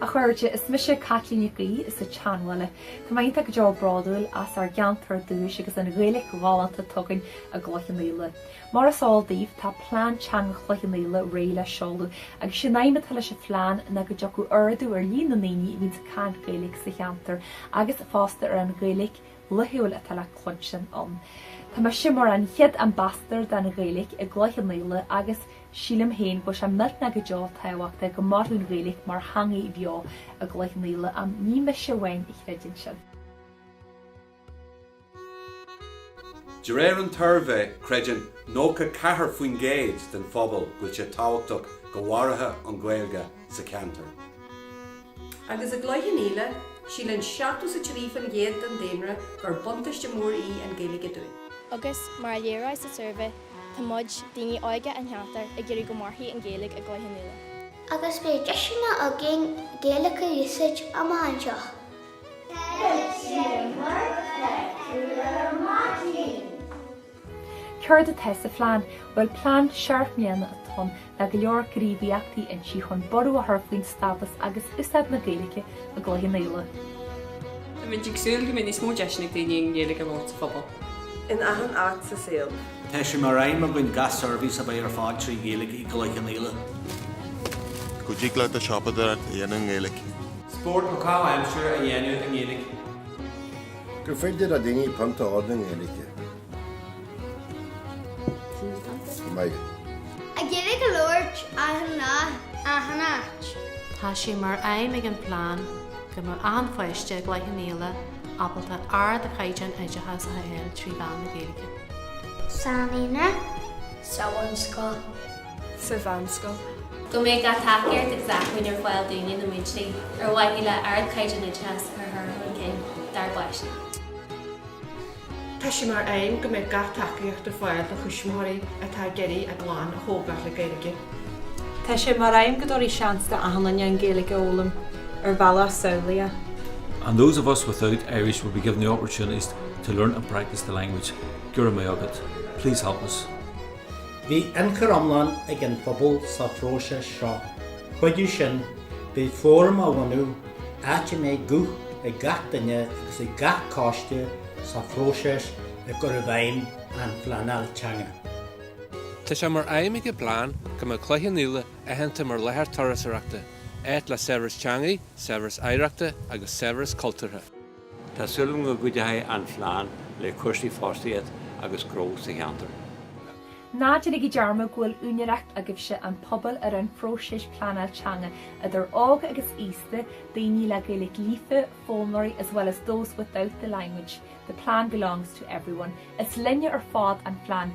A chairde, is mise Caitlín Nic Aoidh as an tSeanbhaile. Tá mé iontach go deo bródúil as ár gceantar dúchais agus an Ghaeilge ghalánta atá againn i gCloich Cheann Fhaola. Mar is eol daoibh, tá Plean Teanga Chloich Cheann Fhaola réidh le seoladh agus is é an aidhm atá leis an phlean ná go dtiocfadh ardú ar líon na ndaoine a bhíonns ag caint Gaeilge sa cheantar agus fosta ar an Ghaeilge laethúil atá le cluinstin ann. Tá mise mar an chéad ambassador don Ghaeilge i gCloich Cheann Fhaola agus sílim féin go bhfuil sé millteanach go deo tábhachtach go mairfeadh an Ghaeilge mar theangaidh bheo i gCloich Cheann Fhaola ann. Ní mise amháin a chreideann sin. De réir an tsuirbhé, creideann 94% den phobal go bhfuil sé tábhachtach go mairfidh an Ghaeilge sa cheantar. Agus i gCloich Cheann Fhaola, síleann 73% den daonra gur buntáiste mór í an Ghaeilge dúinn. Agus, mar a léiríodh sa suirbhé, tá muid, daoine óige an cheantair, ag iarraidh go mairfidh an Ghaeilge i gCloich Cheann Fhaola. Agus beidh deiseanna againn Gaeilge a úsáid amach anseo. Céard atá sa phlean? Bhuel, plean seacht mbliana atá ann, le go leor gníomhaíochtaí inti chun borradh a chur faoin stádas agus úsáid na Gaeilge i gCloich Cheann Fhaola. Tá muid ag súil go mbeidh níos mó deiseanna ag daoine an Ghaeilge a labhairt sa phobal. in achan áit sa saol. Tá sé mar aidhm againn gach seirbhís a bheith ar fáil trí Ghaeilge i gCloich Cheann Fhaola. Go dtig leat do siopadóireacht a dhéanamh i nGaeilge. Spórt nó caitheamh aimsire a dhéanamh i nGaeilge. gur féidir le daoine pionta a ordú i nGaeilge go mbeidh Gaeilge á labhairt achan áit. Tá sé mar aidhm ag an bplean go mbeadh achan pháiste i gCloich Cheann Fhaola ábalta ardchaighdeán oideachais a fháil trí mheán na Gaeilge. sa naíonra, sa bhunscoil. sa mheánscoil. Go mbeidh gach tacaíocht agus acmhainn ar fáil dúinne, na múinteoirí, ar mhaithe le ardchaighdeán oideachais a chur chun cinn dár bpáistí. Tá sé mar aidhm go mbeidh gach tacaíocht ar fáil do thuismitheoirí atá ag iarraidh a gclann a thógáil le Gaeilge. Tá sé mar aidhm go dtabharfaí seans do achan duine an Ghaeilge a fhoghlaim ar bhealach samhlaíoch. And those of us without Irish will be given the opportunities to learn and practice the language. Go raibh maith agat. Please help us. Bhí ionchur iomlán ag an phobal sa phróiseas seo. Chuige sin, beidh fóram á bhunú, áit a mbeidh guth ag gach duine agus ag gach coiste sa phróiseas i gcur i bhfeidhm an phleanáil teanga. Tá sé mar aidhm ag an bplean go mbeadh Cloich Cheann Fhaola aitheanta mar láthair turasóireachta, áit le saibhreas teangaidh, saibhreas oidhreachta agus saibhreas cultúrtha. Tá súil agam go gcuideoidh an phlean le cúrsaí fostaíocht agus gnó sa cheantar. Ná déanaigí dearmad go bhfuil úinéireacht agaibhse, an pobal, ar an phróiseas pleanáil teanga, idir óg agus aosta, daoine le Gaeilge líofa, foghlaimeoirí, as well as those without the language. The plan belongs to everyone. Is linne ar fad an phlean.